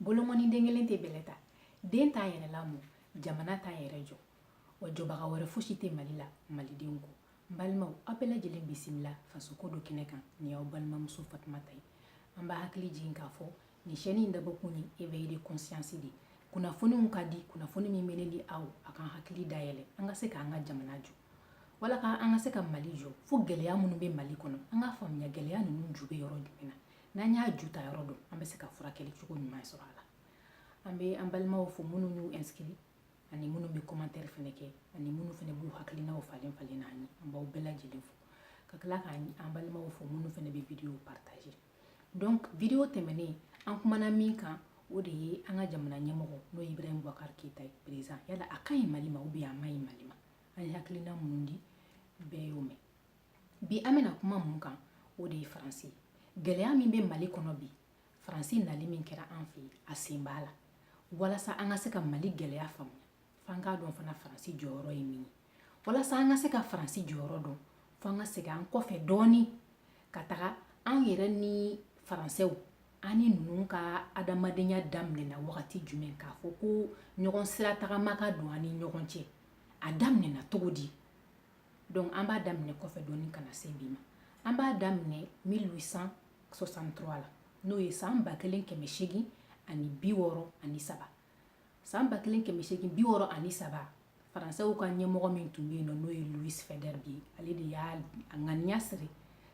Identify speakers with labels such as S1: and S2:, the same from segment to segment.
S1: bolokɔni den kelen tɛ bɛlɛ ta den t'a yɛrɛ lamɔ jamana t'a yɛrɛ jɔ wa jɔbaga wɛrɛ fosi tɛ mali la malidenw kɔ n balimaw aw bɛɛ lajɛlen bisimila fasoko do kɛnɛ kan nin y'aw balimamuso fatumata ye an b'aw hakili jigin k'a fɔ nin chaîne in dabɔkun ye éveil de conscience de kunnafoniw ka di kunnafoni min bɛ ne ni aw a kan hakili dayɛlɛ an ka se k'an ka jamana jɔ walasa an ka se ka mali jɔ fo gɛlɛya minnu bɛ mali kɔnɔ an k'a faamuya gɛlɛya ninnu ju bɛ yɔrɔ jumɛn na n'an y'a ju ta yɔrɔ dɔn an bɛ se ka furakɛli cogo ɲuman sɔrɔ a la an bɛ an balimaw fo minnu y'u inscrit ani minnu bɛ commentaire fɛnɛ kɛ ani minnu fɛnɛ b'u hakilinaw falen falen n'an ye an b'aw bɛɛ lajɛlen fo ka tila k'an an balimaw fo minnu fɛnɛ bɛ video partager donc video tɛmɛnen an kumana min kan o de ye an ka jamana ɲɛmɔgɔ n'o ye ibrahim bubakar keyita ye président yala a ka ɲi mali ma ou bien a man ɲi mali ma an ye hakilina minnu di bɛɛ y'o mɛn bi an bɛna kuma mun kan o de ye faransi gɛlɛya min bɛ mali kɔnɔ bi faransi nali min kɛra an fɛ a sen b'a la walasa an ka se ka mali gɛlɛya faamuya f'an k'a dɔn fana faransi jɔyɔrɔ ye min ye walasa an ka se ka faransi jɔyɔrɔ dɔn fo an ka segin an kɔfɛ dɔɔni ka taga an yɛrɛ ni faransɛw an ni ninnu ka adamadenya daminɛna wagati jumɛn k'a fɔ ko ɲɔgɔn sira tagama ka don an ni ɲɔgɔn cɛ a daminɛna cogo di donc an b'a daminɛ kɔfɛ dɔɔni ka na se bi ma an b'a daminɛ 1863 la n'o ye san ba kelen kɛmɛ seegin ani bi wɔɔrɔ ani saba san ba kelen kɛmɛ seegin bi wɔɔrɔ ani saba faransɛw ka ɲɛmɔgɔ min tun bɛ yen n'o n'o ye louis faidherbe ale de y'a a ŋaniya siri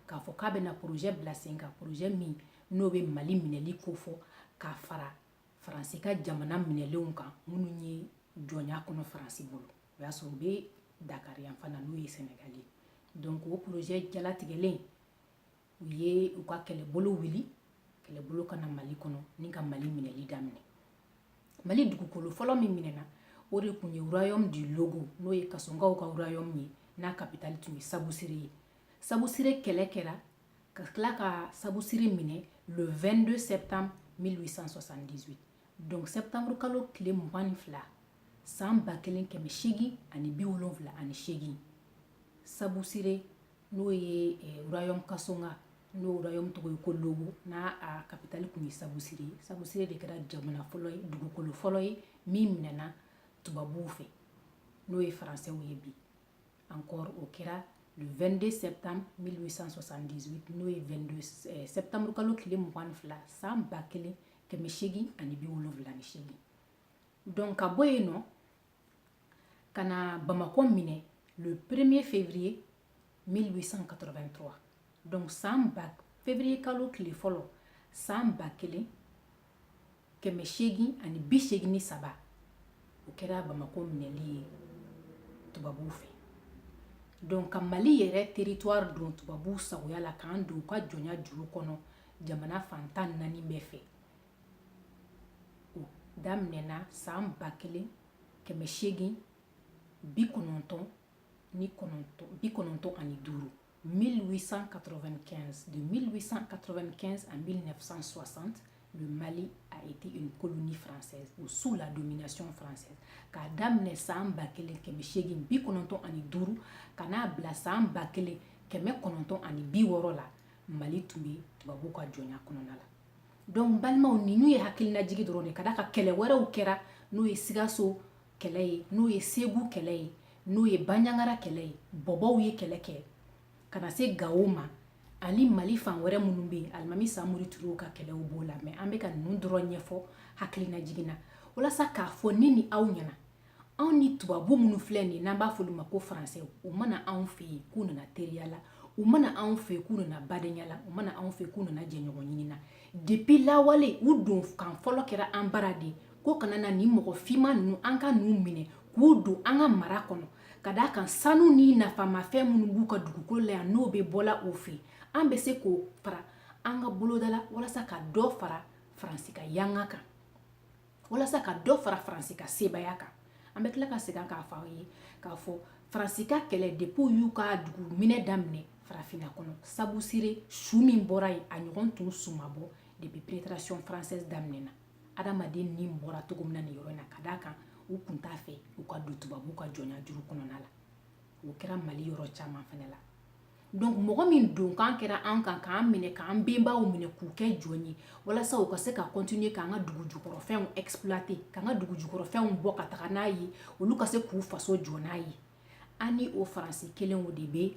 S1: k'a fɔ k'a bɛna porozɛ bila sen kan porozɛ min n'o bɛ mali minɛli ko fɔ k'a fara faransi ka jamana minɛlenw kan minnu ye jɔnya kɔnɔ faransi bolo o y'a sɔrɔ u bɛ dakari yan fana n'o ye sɛnɛgali ye donc o porozɛ jalatigɛlen u ye u ka kɛlɛbolo wuli kɛlɛbolo ka na mali kɔnɔ ni ka mali minɛli daminɛ mali dugukolo fɔlɔ min minɛna o de tun ye royaume du logo n'o ye kasonkaw ka royaume ye n'a kapitali tun ye sabusire ye sabusire kɛlɛ kɛra ka tila ka sabusire minɛ le 22 septembre 1878 donc septembre kalo tile mugan ni fila san ba kelen kɛmɛ seegin ani bi wolonwula ani seegin sabusire n'o ye eh, royaume kasonka n'o royaume tɔgɔ ye ko logo n'a a kapitali tun ye sabusire ye sabusire de kɛra jamana fɔlɔ ye dugukolo fɔlɔ ye min minɛna tubabuw fɛ n'o ye faransɛw ye bi encore o kɛra le 22 septembre 1878 n'o ye 22 eh, septembre kalo tile mugan ni fila san ba kelen kɛmɛ seegin ani bi wolonwula ni seegin donc ka bɔ yen nɔ ka na bamakɔ minɛ le premier février 1883 donc san ba février kalo tile fɔlɔ san ba kelen kɛmɛ seegin ani bi seegin ni saba o kɛra bamakɔ minɛli ye tubabuw fɛ donc ka mali yɛrɛ territoire don tubabuw sagoya la k'an don u ka jɔnya juru kɔnɔ jamana fan tan ni naani bɛɛ fɛ o daminɛna san ba kelen kɛmɛ seegin bi kɔnɔntɔn ni kɔnɔntɔn bi kɔnɔntɔn ani duuru 1895 de 1895 à 1960 le Mali a été une colonie française ou sous la domination française k'a daminɛ san ba kelen kɛmɛ seegin bi kɔnɔntɔn ani duuru ka n'a bila san ba kelen kɛmɛ kɔnɔntɔn ani bi wɔɔrɔ la mali tun bɛ tubabuw ka jɔnya kɔnɔna la donc balimaw ninnu ye hakilinajigi dɔrɔn de ka d'a kan kɛlɛ wɛrɛw kɛra n'o ye sigaso kɛlɛ ye n'o ye segu kɛlɛ ye n'o ye banjagara kɛlɛ ye bɔbɔw ye kɛlɛ kɛ ka na se gawo ma ani mali fan wɛrɛ minnu bɛ yen alimami samori turew ka kɛlɛw b'o la mais an bɛ ka ninnu dɔrɔn ɲɛfɔ hakilinajigi na walasa k'a fɔ ne ni aw ɲɛna anw ni tubabu minnu filɛ nin n'an b'a f'olu ma ko faransɛw u ma na anw fɛ yen k'u nana teriya la u ma na anw fɛ yen k'u nana badenya la u ma na anw fɛ yen k'u nana jɛɲɔgɔn ɲini na depuis lawale u don kan fɔlɔ kɛra an bara de ko kana na nin mɔgɔ finman ninnu an ka n'u minɛ k'u don an ka mara kɔnɔ ka d'a kan sanu ni nafamafɛn minnu b'u ka dugukolo la yan n'o bɛ bɔla o fɛ an bɛ se k'o fara an ka boloda la walasa ka dɔ fara faransi ka yanga kan walasa ka dɔ fara faransi ka sebaaya kan an bɛ tila ka segin k'a fɔ aw ye k'a fɔ faransi ka kɛlɛ depuis u y'u ka dugu minɛ daminɛ farafinna kɔnɔ sabusire su min bɔra yen a ɲɔgɔn tun su ma bɔ depuis pénétration française daminɛna adamaden ni bɔra cogo min na nin yɔrɔ in na ka d'a kan u kun t'a fɛ u ka don tubabuw ka jɔnya juru kɔnɔna la o kɛra mali yɔrɔ caman fana la mɔgɔ min don kan kɛra an kan k'an minɛ k'an benbaw minɛ k'u kɛ jɔn ye walasa u ka se ka continuer k'an ka dugu jukɔrɔfɛnw exploiter k'an ka dugu jukɔrɔfɛnw bɔ ka taga n'a ye olu ka se k'u faso jɔ n'a ye an ni o faransi kelen o de bɛ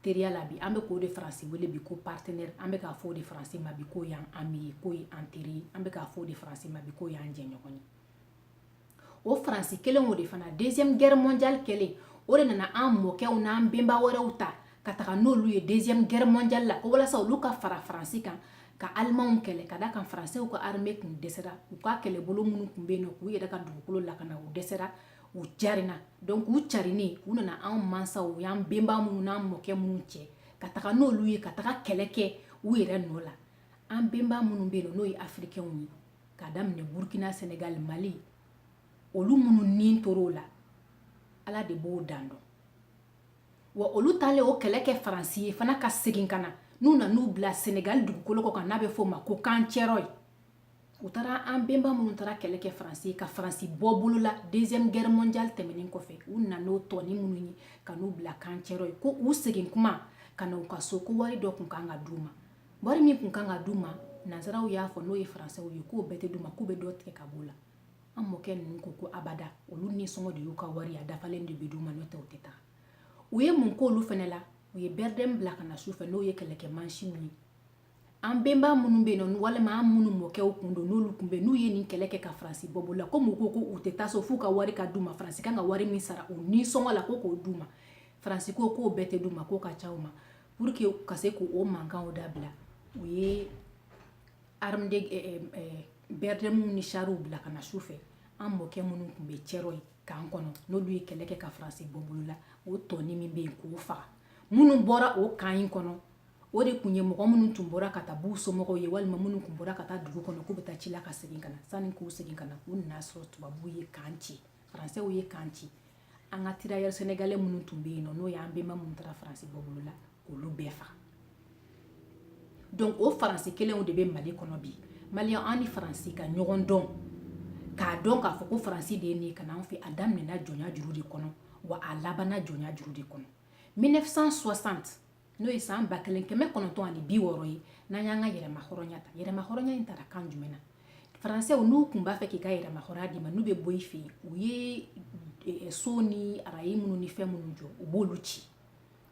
S1: teriya la bi an bɛ k'o de faransi wele bi ko partenaire an bɛ k'a fɔ o de faransi ma bi k'o y'an ami ye k'o ye an teri ye an bɛ k'a fɔ o de faransi ma bi k'o y'an jɛɲɔgɔn ye o faransi kelen o de fana deuxième guerre mondiale kɛlen o de nana an mɔkɛw n'an benba wɛrɛw ta ka taga n'olu ye deuxième guerre mondiale la ko walasa olu ka fara faransi kan ka alimanw kɛlɛ ka da kan faransɛw ka armée kun dɛsɛra u ka kɛlɛbolo minnu kun bɛ yen nɔ k'u yɛrɛ ka dugukolo lakana u dɛsɛra u carina donc u carinen u nana anw ma sa u y'an benba minnu n'an mɔkɛ minnu cɛ ka taga n'olu ye ka taga kɛlɛ kɛ u yɛrɛ nɔ la an benba minnu bɛ yen nɔ n'o ye afirikɛnw ye ka daminɛ burkina senegal mali olu minnu ni tor'o la ala de b'o dan dɔn wa olu taalen o kɛlɛ kɛ faransi ye fana ka segin ka na n'u nan'u bila senegal dugukolo kɔ kan n'a bɛ f'o ma ko camp thiaroye u taara an benba minnu taara kɛlɛ kɛ faransi ye ka faransi bɔ bolo la deuxième guerre mondiale tɛmɛnen kɔfɛ u na n'o tɔni minnu ye ka n'u bila camp thiaroye ko u segin kuma ka na u ka so ko wari dɔ kun kan ka d'u ma wari min kun kan ka d'u ma nansaraw y'a fɔ n'o ye faransɛw ye k'o bɛɛ tɛ d'u ma k'u bɛ dɔ tigɛ ka b'o la an mɔkɛ ninnu ko ko abada olu nisɔngɔ de y'u ka wari a dafalen de bɛ d'u ma n'o tɛ u tɛ taa u ye mun k'olu fana la u ye bɛrɛdɛmu bila ka na su fɛ n'o ye kɛlɛkɛ mansinw ye an benba minnu bɛ yen nɔ walima an minnu mɔkɛw kun don n'olu kun bɛ n'u ye nin kɛlɛ kɛ ka faransi bɔ bolo la komi u ko k'u tɛ taa so f'u ka wari ka d'u ma faransi kan ka wari min sara u nisɔngɔ la ko k'o d'u ma faransi ko k'o bɛɛ tɛ d'u ma k'o ka ca u ma pour que ka se k'o mankanw dabila u ye bɛrɛdɛmu ni sariw bila ka na su fɛ an mɔkɛ minnu tun bɛ thiaroye camp kɔnɔ n'olu ye kɛlɛ kɛ ka faransi bɔ bolo la o tɔni min bɛ yen k'o faga minnu bɔra o camp in kɔnɔ o de tun ye mɔgɔ minnu tun bɔra ka taa b'u somɔgɔw ye walima minnu tun bɔra ka taa dugu kɔnɔ k'u bɛ taa ci la ka segin ka na sanni k'u segin ka na u nan'a sɔrɔ tubabuw ye camp ci faransɛw ye camp ci an ka tirailleurs sénégalais minnu tun bɛ yen nɔ n'o y'an benba minnu taara faransi bɔ bolo la k'olu bɛɛ faga donc o faransi kelenw de bɛ mali kɔnɔ bi maliyɛn an ni faransi ka ɲɔgɔn dɔn k'a dɔn k'a fɔ ko faransi de ye nin ye ka n'an fɛ a daminɛna jɔnya juru de kɔnɔ wa a labanna jɔnya juru de kɔnɔ 1960 n'o ye san ba kelen kɛmɛ kɔnɔntɔn ani bi wɔɔrɔ ye n'an y'an ka yɛrɛma hɔrɔnya ta yɛrɛma hɔrɔnya in tara kan jumɛn na faransɛw n'u kun b'a fɛ k'i ka yɛrɛma hɔrɔnya d'i ma n'u bɛ bɔ i fɛ yen u ye eh, so ni araye minnu ni fɛn minnu jɔ u b'olu ci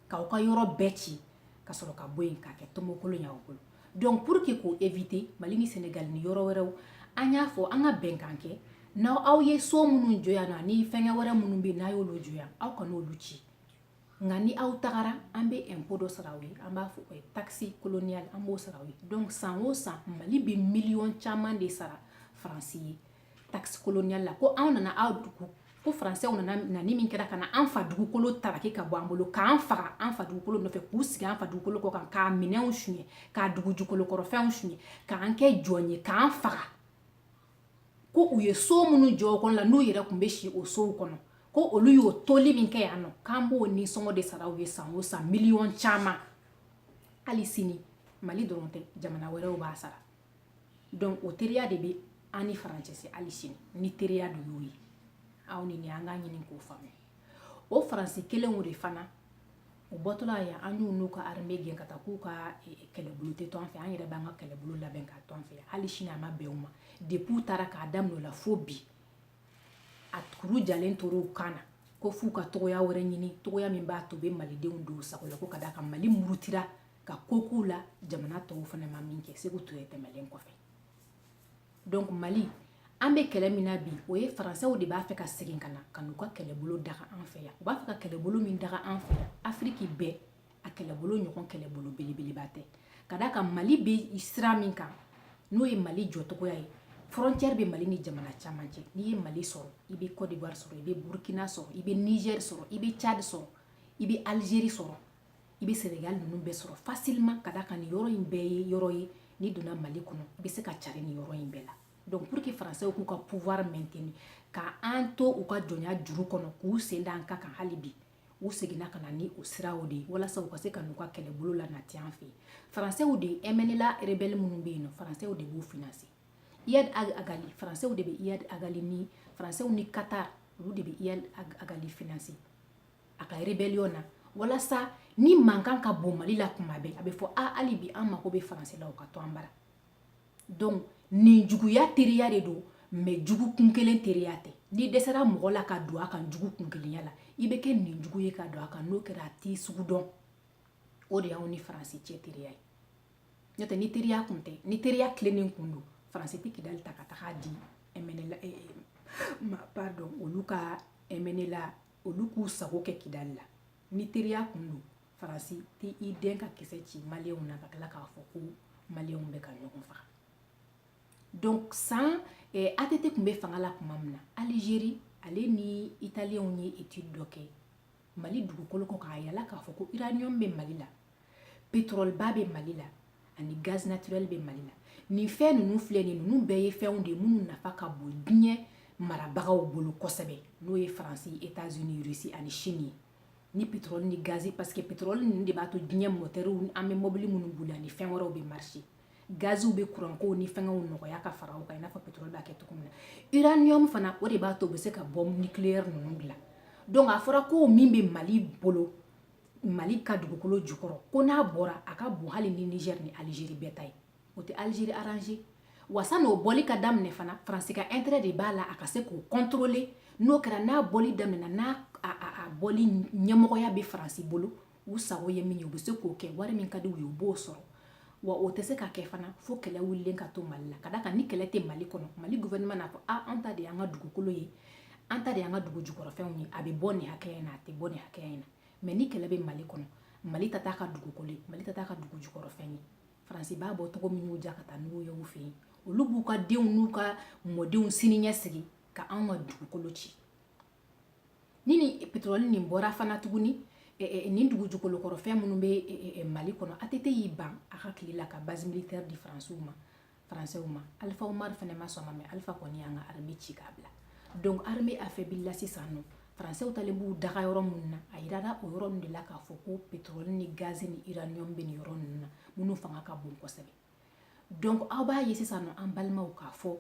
S1: k'aw ka yɔrɔ bɛɛ ci ka sɔrɔ ka bɔ yen k'a kɛ tomokolon y'aw bolo donc pour que k'o éviter mali ni senegal ni yɔrɔ wɛrɛw an y'a fɔ an ka bɛnkan kɛ n'aw aw ye so minnu jɔ yan nɔ ani fɛngɛ wɛrɛ minnu bɛ yen n'a y'olu jɔ yan aw kan'olu ci nka ni aw tagara an bɛ impôt dɔ sara aw ye an b'a fɔ o ye taxe coloniale an b'o sara aw ye donc san o san mali bɛ miliyɔn caman de sara faransi ye taxe coloniale la ko anw nana aw dugu ko faransɛw nana nani min kɛra ka na an fa dugukolo taraki ka bɔ an bolo k'an faga an fa dugukolo nɔfɛ k'u sigi an fa dugukolo kɔ kan k'a minɛnw suɲɛ k'a dugu jukolo kɔrɔfɛnw suɲɛ k'an kɛ jɔn ye k'an faga ko u ye so minnu jɔ kɔnɔ la n'u yɛrɛ kun bɛ si o sow kɔnɔ ko olu y'o toli min kɛ yan nɔ k'an b'o nisɔngɔ de sara u ye san o san miliyɔn caman hali sini mali dɔrɔn tɛ jamana wɛrɛw b'a sara donc o teriya de bɛ an ni faransi cɛ hali sini ni teriya de y'o ye aw ni ne an k'a ɲini k'o faamuya o faransi kelenw de fana u bɔtɔla yan an y'u n'u ka arme gɛn ka taa k'u ka e, e, kɛlɛbolo tɛ to an fɛ an yɛrɛ b'an ka kɛlɛbolo labɛn k'a to an fɛ hali sini a ma bɛn u ma depuis u taara k'a daminɛ o la fo bi a kuru jalen tora u kan na ko f'u ka cogoya wɛrɛ ɲini cogoya min b'a to u bɛ malidenw don u sago la ko ka da kan mali murutira ka ko k'u la jamana tɔw fana ma min kɛ seku ture tɛmɛlen kɔfɛ donc mali an bɛ kɛlɛ min na bi o ye faransɛw de b'a fɛ ka segin ka na ka n'u ka kɛlɛbolo daga an fɛ yan u b'a fɛ ka kɛlɛbolo min daga an fɛ yan afiriki bɛɛ a kɛlɛbolo ɲɔgɔn kɛlɛbolo belebeleba tɛ ka da kan mali bɛ sira min kan n'o ye mali jɔcogoya ye frontière bɛ mali ni jamana caman cɛ n'i ye mali sɔrɔ i bɛ côte d'ivoire sɔrɔ i bɛ burkina sɔrɔ i bɛ niger sɔrɔ i bɛ tchad sɔrɔ i bɛ algérie sɔrɔ i bɛ sɛnɛgali ninnu bɛɛ sɔrɔ facilement ka da kan nin yɔrɔ in bɛɛ ye yɔrɔ ye n'i donna mali kɔnɔ i bɛ se ka cari nin yɔrɔ in bɛɛ la donc pour que faransɛw k'u ka pouvoir maintenir ka an to u ka jɔnya juru kɔnɔ k'u sen da an ka kan hali bi u seginna ka na ni o siraw de ye walasa u ka se ka n'u ka kɛlɛbolo lanati an fɛ faransɛw de ye mnla rebɛli minnu bɛ yen nɔ faransɛw de b'u financer iyad agali faransɛw de bɛ iyad agali ni faransɛw ni qatar olu de bɛ iyad agali financer a ka rébellion na walasa ni mankan ka bon mali la kuma bɛɛ a bɛ fɔ a hali bi an mako bɛ faransi la o ka to an bara donc nin juguya teriya de don mais jugu kun kelen teriya tɛ n'i dɛsɛra mɔgɔ la ka don a kan jugu kun kelenya la i bɛ kɛ nin jugu ye ka don a kan n'o kɛra a t'i sugu dɔn o de y'anw ni faransi cɛ teriya ye n'o tɛ ni teriya kun tɛ ni teriya tilennen kun don faransi tɛ kidali ta ka taga di mnla eh, eh, ma pardon olu ka mnla olu k'u sago kɛ kidali la ni teriya kun don faransi tɛ i dɛn ka kisɛ ci maliyɛnw na ka tila k'a fɔ ko maliyɛnw bɛ ka ɲɔgɔn faga donc san eh, att kun bɛ fanga la tuma min na algérie ale ni italiyɛnw ye étude dɔ kɛ mali dugukolo kɔ k'a yala k'a fɔ ko uranium bɛ mali la pétrole ba bɛ mali la ani gaz naturel bɛ mali la nin fɛn ninnu filɛ nin ninnu bɛɛ ye fɛnw de ye minnu nafa ka bon diɲɛ marabagaw bolo kosɛbɛ n'o ye faransi états unis russie ani chine ye ni pétrole ni gazi parce que pétrole ninnu de b'a to diɲɛ mɔtɛriw an bɛ mɔbili minnu boli ani fɛn wɛrɛw bɛ marcher gaziw bɛ kurankow ni fɛngɛw nɔgɔya ka fara o kan i n'a fɔ pétrole b'a kɛ cogo min na uranium fana o de b'a to u bɛ se ka bɔmu nucléaire ninnu dilan donc a fɔra ko min bɛ mali bolo mali ka dugukolo jukɔrɔ ko n'a bɔra a ka bon hali ni niger ni algérie bɛɛ ta ye o tɛ algérie arrangé wa san'o bɔli ka daminɛ fana faransi ka intérêt de b'a la a ka se k'o contrôler n'o kɛra n'a bɔli daminɛna n'a bɔli ɲɛmɔgɔya bɛ faransi bolo u sago ye min ye u bɛ se k'o kɛ wari min ka di u ye u b'o sɔrɔ wa o tɛ se ka kɛ fana fo kɛlɛ wulilen ka to mali la ka da kan ni kɛlɛ tɛ mali kɔnɔ mali gouvernement n'a fɔ a an ta de y'an ka dugukolo ye an ta de y'an ka dugu jukɔrɔfɛnw ye a bɛ bɔ nin hakɛya in na a tɛ bɔ nin hakɛya in na mais ni kɛlɛ bɛ mali kɔnɔ mali ta t'a ka dugukolo ye mali ta t'a ka dugu jukɔrɔfɛn ye faransi b'a bɔ cogo min y'u ja ka taa n'u ye u fɛ yen olu b'u ka denw n'u ka mɔdenw siniɲɛsigi ka anw ka dugukolo ci ni nin petrɔli nin bɔra fana tuguni e, e, nin dugu jukolo kɔrɔ fɛn minnu bɛ e, mali kɔnɔ atete y'i ban a ka tile la ka base militaire di faransiw ma français ma alpha oumar fana ma sɔn ma mais alpha kɔni y'an ka armée ci k'a bila donc armée afɛbilila sisan nɔ français taalen b'u daga yɔrɔ minnu na a yirara o yɔrɔ ninnu de la k'a fɔ ko pétrole ni gaz ni uranium bɛ nin yɔrɔ ninnu na minnu fanga ka bon kosɛbɛ donc aw b'a ye sisan nɔ an balimaw k'a fɔ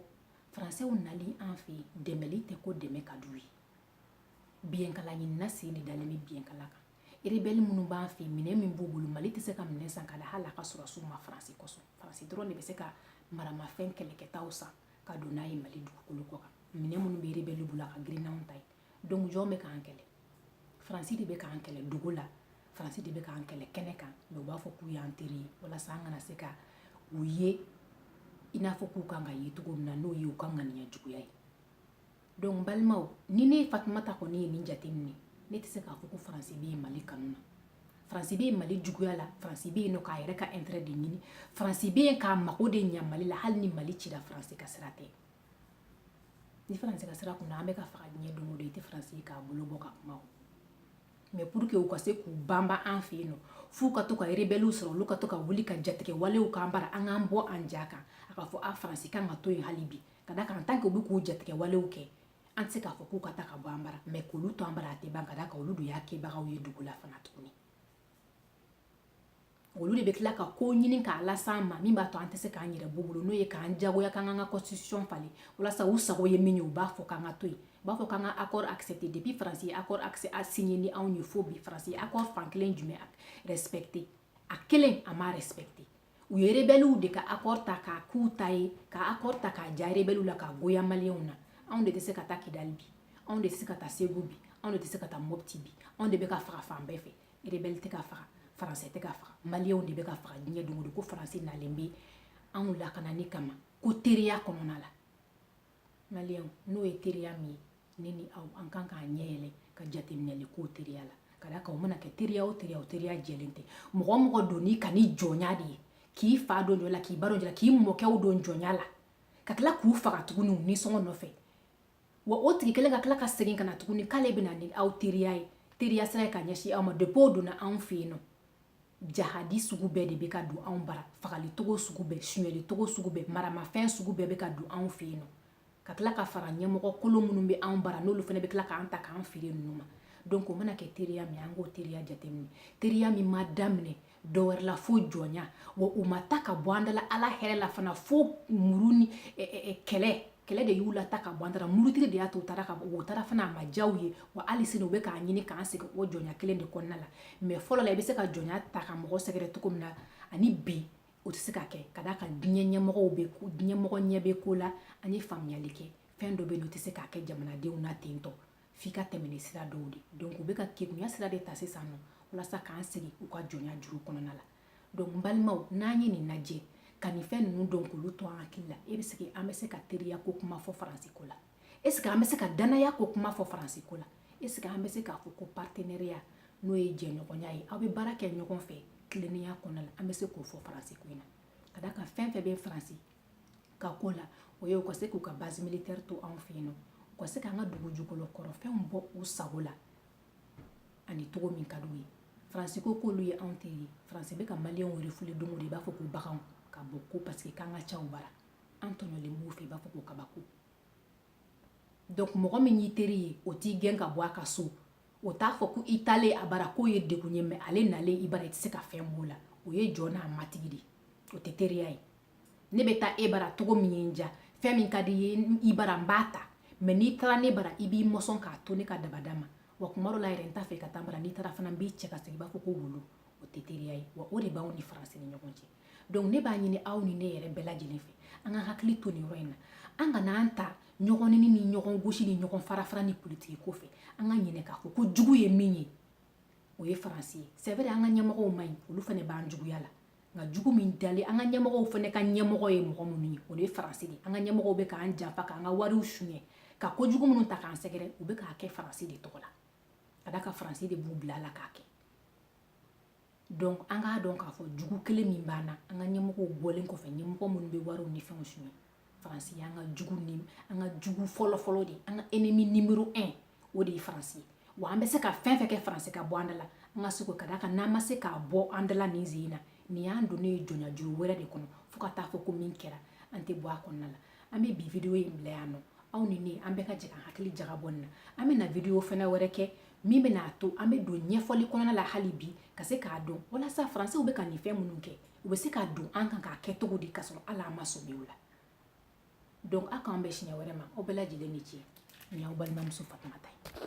S1: français nali an fɛ yen dɛmɛli tɛ ko dɛmɛ ka d'u ye biyɛnkala ɲinina sen de dalen bɛ biyɛnkala kan rebelle minnu b'an fɛ yen minɛn min b'u bolo mali tɛ se ka minɛn san ka di hali a ka sɔrɔdasiw ma faransi kosɔn faransi dɔrɔn de bɛ se ka maramafɛn kɛlɛkɛtaw san ka don n'a ye mali dugukolo kɔ kan minɛn minnu bɛ rebelle bolo a ka girin n'anw ta ye donc jɔn bɛ k'an kɛlɛ faransi de bɛ k'an kɛlɛ dogo la faransi de bɛ k'an kɛlɛ kɛnɛ kan mais u b'a fɔ k'u y'an teri ye walasa an kana se ka u ye i n'a fɔ k'u kan ka ye cogo min na n'o ye u ka ŋaniya juguya ye donc balimaw ni ne fatumata kɔni ye nin jateminɛ ne tɛ se k'a fɔ ko faransi bɛ yen mali kanu na faransi bɛ yen mali juguya la faransi bɛ yen nɔ k'a yɛrɛ ka intérêt de ɲini faransi bɛ yen k'a mago de ɲa mali la hali ni mali cira faransi ka sira tɛ ni faransi ka sira kunna an bɛ ka faga diɲɛ don o don i tɛ faransi ye k'a bolo bɔ ka kuma o mais pour que u ka se k'u banban an fɛ yen nɔ f'u ka to ka rebɛliw sɔrɔ olu ka to ka wuli ka jatigɛ walew k'an bara an k'an bɔ an ja kan a k'a fɔ a faransi kan ka to yen hali bi ka da kan tant qu'olu bɛ k'u jatigɛ walew kɛ an tɛ se k'a fɔ k'u ka taa ka bɔ an bara mais k'olu to an bara a tɛ ban ka da kan olu de y'a kɛbagaw ye dogo la fana tuguni olu de bɛ tila ka ko ɲini k'a las'an ma min b'a to an tɛ se k'an yɛrɛ b'u bolo n'o ye k'an jagoya k'an k'an ka constitution falen walasa u sago ye min ye u b'a fɔ k'an ka to yen u b'a fɔ k'an ka accord accepté depuis faransi ye accord accès a signé ni anw ye fo bi faransi ye accord fan kelen jumɛn respecté a kelen a m'a respecté u ye rebɛliw de ka accord ta k'a k'u ta ye ka accord ta k'a ja rebɛliw la k'a goya maliyɛnw na anw de tɛ se ka taa kidali bi anw de tɛ se ka taa segu bi anw de tɛ se ka taa mopti bi anw de bɛ ka faga fan bɛɛ fɛ rebɛli tɛ ka faga faransɛ tɛ ka faga maliyɛnw de bɛ ka faga diɲɛ don o don ko faransi nalen bɛ anw lakanani kama ko teriya kɔnɔna la maliyɛnw n'o ye teriya min ye ne ni aw an kan k'an ɲɛ yɛlɛ ka jateminɛli k'o teriya la ka d'a kan o mana kɛ teriya o teriya o teriya jɛlen tɛ mɔgɔ mɔgɔ donn'i kan ni jɔnya de ye k'i fa don jɔ la k'i ba don jɔ la k'i mɔkɛw don jɔnya la ka tila k'u faga tuguni u nisɔngɔ nɔfɛ wa o tigi kelen ka tila ka segin ka na tuguni k'ale bɛna ni aw teriya ye teriya sira ye ka ɲɛsin aw ma depuis o donna anw fɛ yen nɔ jahadi sugu bɛɛ de bɛ ka don anw bara fagalicogo sugu bɛɛ suɲɛlicogo sugu bɛɛ maramafɛn sugu bɛɛ bɛ ka don anw fɛ yen nɔ ka tila ka fara ɲɛmɔgɔ kolon minnu bɛ anw bara n'olu fana bɛ tila k'an ta k'an feere ninnu ma donc o mana kɛ teriya min an k'o teriya jateminɛ teriya min ma daminɛ dɔwɛrɛ la fo jɔnya wa u ma taa ka bɔ an da la ala hɛrɛ la fana fo muru ni kɛlɛ kɛlɛ de y'u lataa ka bɔ an da la murutiri de y'a to u taara ka bɔ u taara fana a ma diya u ye wa hali sini u bɛ k'a ɲini k'an segin o jɔnya kelen de kɔnɔna la mais fɔlɔ la i bɛ se ka jɔnya ta ka mɔgɔ sɛgɛrɛ cogo min na ani bi o tɛ se ka kɛ ka d'a kan diɲɛ mɔgɔ ɲɛ bɛ ko la an ye faamuyali kɛ fɛn dɔ bɛ yen o tɛ se ka kɛ jamanadenw na ten tɔ f'i ka tɛmɛ ni sira dɔw de donc u bɛ ka kegunya sira de ta sisan nɔ walasa k'an segin u ka jɔnya juru kɔnɔna la donc n balimaw n'an ye nin lajɛ ka nin fɛn ninnu dɔn k'olu to an hakili la est-ce que an bɛ se ka teriya ko kuma fɔ faransi ko la est-ce que an bɛ se ka dannaya ko kuma fɔ faransi ko la est-ce que an bɛ se k'a fɔ ko partenariat n'o ye jɛɲɔgɔnya ye aw bɛ baara kɛ ɲɔgɔn fɛ tilennenya kɔnɔna la an bɛ se k'o fɔ faransi ko in na ka d'a kan fɛn fɛn bɛ faransi ka ko la o ye u ka se k'u ka base militaire to anw fɛ yen nɔ u ka se k'an ka dugu jukɔrɔ kɔrɔfɛnw bɔ u sago la ani cogo min ka d'u ye faransi ko k'olu ye anw teri ye faransi bɛ ka maliyɛnw refouler don o don i b'a fɔ ko baganw ka bɔ ko parce que k'an ka ca u bara an tɔɲɔlen b'u fɛ i b'a fɔ ko kabako donc mɔgɔ min y'i teri ye o t'i gɛn ka bɔ a ka so o t'a fɔ ko i taalen a bara k'o ye degun ye mais ale nalen i bara i tɛ se ka fɛn f'o la o ye jɔn n'a matigi de o tɛ teriya ye ne bɛ taa e bara cogo min ye n diya fɛn min ka di n ye i bara n b'a ta mais n'i taara ne bara i b'i mɔsɔn k'a to ne ka dabada ma wa tuma dɔ la yɛrɛ n t'a fɛ i ka taa n bara n'i taara fana n b'i cɛ ka segin i b'a fɔ ko wulu o tɛ teriya ye wa o de b'anw ni faransi ni ɲɔgɔn cɛ donc ne b'a ɲini aw ni ne yɛrɛ bɛɛ lajɛlen fɛ an ka hakili to nin yɔrɔ in na an kana an ta ɲɔgɔn neni ni ɲɔgɔn gosi ni ɲɔgɔn farafara ni politiki ko fɛ an ka ɲinɛ k'a fɔ ko jugu ye min ye o ye faransi ye c'est vrai an ka ɲɛmɔgɔw man ɲi olu fana b'an juguya la nka jugu min dalen an ka ɲɛmɔgɔw fana ka ɲɛmɔgɔ ye mɔgɔ minnu ye o de ye faransi de an ka ɲɛmɔgɔw bɛ k'an janfa k'an ka wariw suɲɛ ka kojugu minnu ta k'an sɛgɛrɛ u bɛ k'a kɛ faransi de tɔgɔ la ka d'a kan faransi de b'u bila a la k'a kɛ donc an k'a dɔn k'a fɔ jugu kelen min b'an na an ka ɲɛmɔgɔw bɔlen kɔfɛ ɲɛmɔgɔ minnu bɛ wariw ni fɛnw suɲɛ faransi y'an ka jugu fɔlɔfɔlɔ de an ka ennemi numéro 1 o de ye faransi ye wa an bɛ se ka fɛn fɛn kɛ faransi ka bɔ an da la an ka se k'o ka d'a kan n'an ma se k'a bɔ an da la nin sen in na nin y'an donnen ye jɔnyajuru wɛrɛ de kɔnɔ fo ka taa fɔ ko min kɛra an tɛ bɔ a kɔnɔna la an bɛ bi video in bila yan nɔ aw ni ne an bɛɛ ka jɛ ka hakili jagabɔ nin na an bɛna video fana wɛrɛ kɛ min bɛna a to an bɛ don ɲɛfɔli kɔnɔna la hali bi ka se k'a dɔn walasa faransiw bɛ ka nin fɛn minnu kɛ u bɛ se ka don an kan k'a kɛ cogo di k'a sɔrɔ hali an ma sɔmi o la donc aw k'an bɛn siɲɛ wɛrɛ ma aw bɛɛ lajɛlen ni ce nin y'aw balimamuso fatumata ye